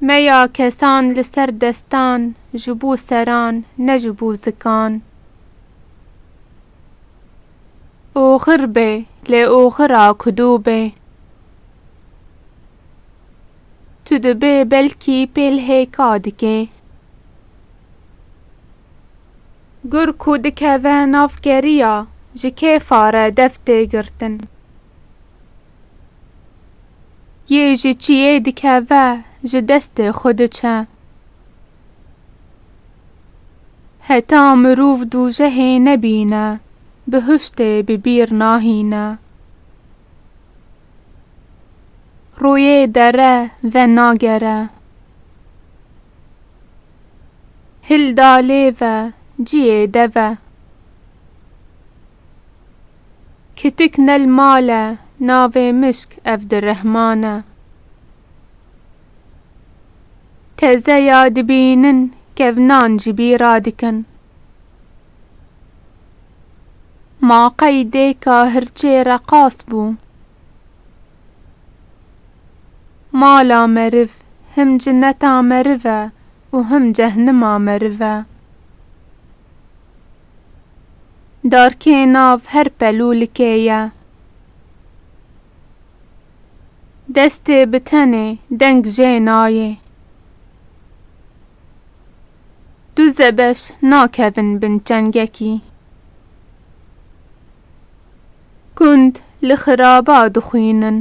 Meya kesan li ser destan ji bo seran ne ji bo zikan. Oxir be lê oxira ku do be. Tu dibê belkî pêlhêka dikê. Gur ku dikeve nav keriya, ji kê fare dev tê girtin? Yê ji çiyê dikeve, ji destê xwe diçe. Heta mirov dûjehê nebîne, bihuştê bi bîr nahîne. Rûyê dere venagere. Hilda lêve ciyê deve. Kitik nel male navê mişk evdirehmane. Tezeya dibînin kevnan ji bî radikin. Ma qey dêka hirçê reqas bû. Mala meriv him cineta meriv e û him cehnima meriv e. Darkê nav her pelûlikê ye. Destê bi tenê deng jê nayê. Du zebeş nakevin bin çengekî. Gund li xiraba dixwînin.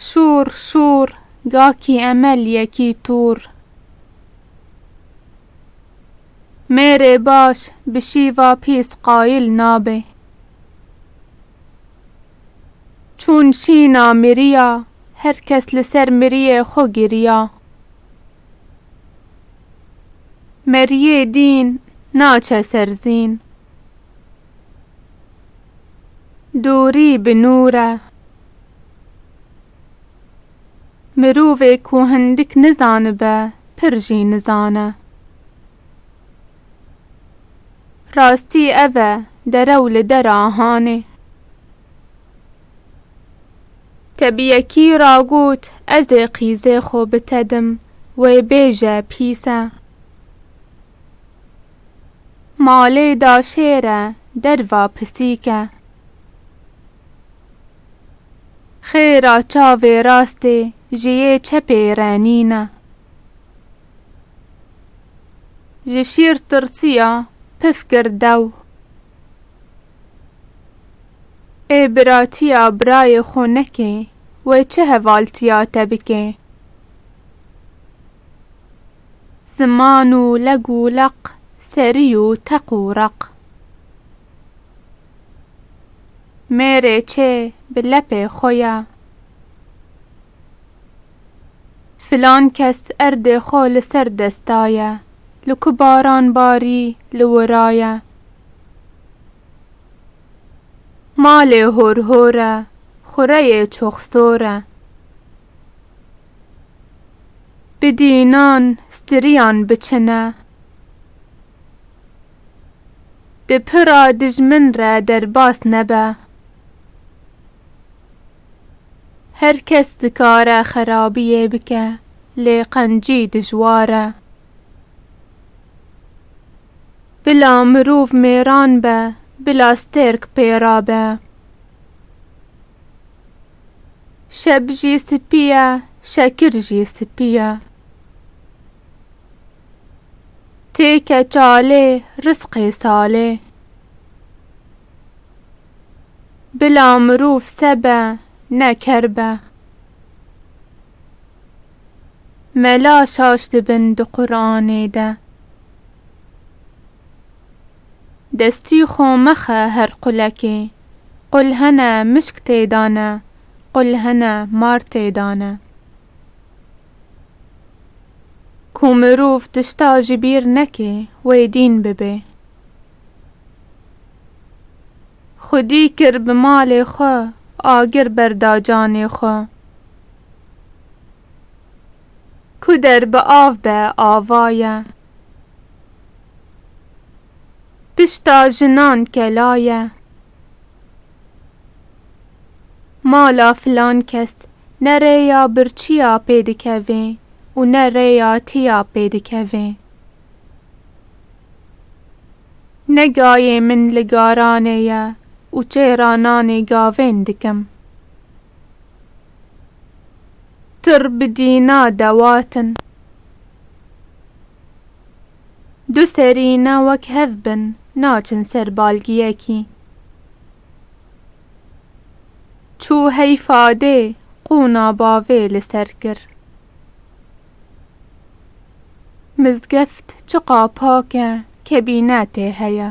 Şûr şûr gakî emel yekî tûr. Mêrê baş bi şîva pîs qayil nabe. Çûn şîna miriya, her kes li ser miriyê xwe giriya. Meriyê dîn naçe ser zîn. Dorî bi nûr e. Mirovê ku hindik nizanibe pir jî nizane. Rastî ev e derew li der a hanê. Te bi yekî ra got, Ez ê qîzê xwe bitedim, wê bêje pîs e. Malê da şêr e, derva pisîk e. Xêra çavê rastê, ji yê çepê renîn e. Ji şîr tirsiya, pif kir dew. Ê biratiya birayê xwe nekê, wê çi hevaltiya te bike? Ziman û leg û leq, serî û teq û req. Mêrê çê bi lepê xwe ye. Filan kes erdê xwe li ser desta ye, li ku baran barî li wira ye. Malê hor hor e, xureyê çox sor e. Bidî înan stirîyan biçine. Di pira dijmin re derbas nebe. Her kes dikare xerabiyê bike lê qencî dijwar e. Bila mirov mêran be, bila stêrk pêra be. Şeb jî spî ye, şekir jî spî ye. Têke çalê, risqê salê. Bila mirov se be, ne ker be. Mela şaş dibin di Quranê de. Destî xo mexe her qulekê. Qul hene mişk tê da ne, qul hene mar tê da ne. Ku mirov tişta ji bîr nekê wê dîn bibê. Xwedî kir bi malê xwe, agir berda canê xwe. Ku der bi av be ava ye. Pişta jinan kela ye. Mala filan kes ne rêya birçiya pê dikevê û ne rêya tiya pê dikevê. Ne gayê min li garanê ye û çêra nanê gavên dikim. Tir bi dîna dewatin. Du serîne wek hev bin naçin ser balgiyekî. Çû hey fadê qûna bavê li ser kir. Mizgeft çiqa pak e kebîne tê heye.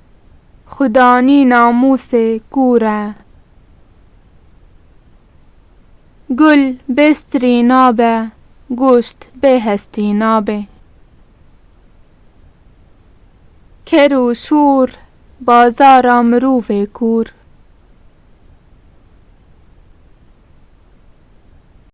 Xudanî namûsê kûr e. Gul bê strî nabe, goşt bê hestî nabê. Ker û şûr bazara mirovê kûr.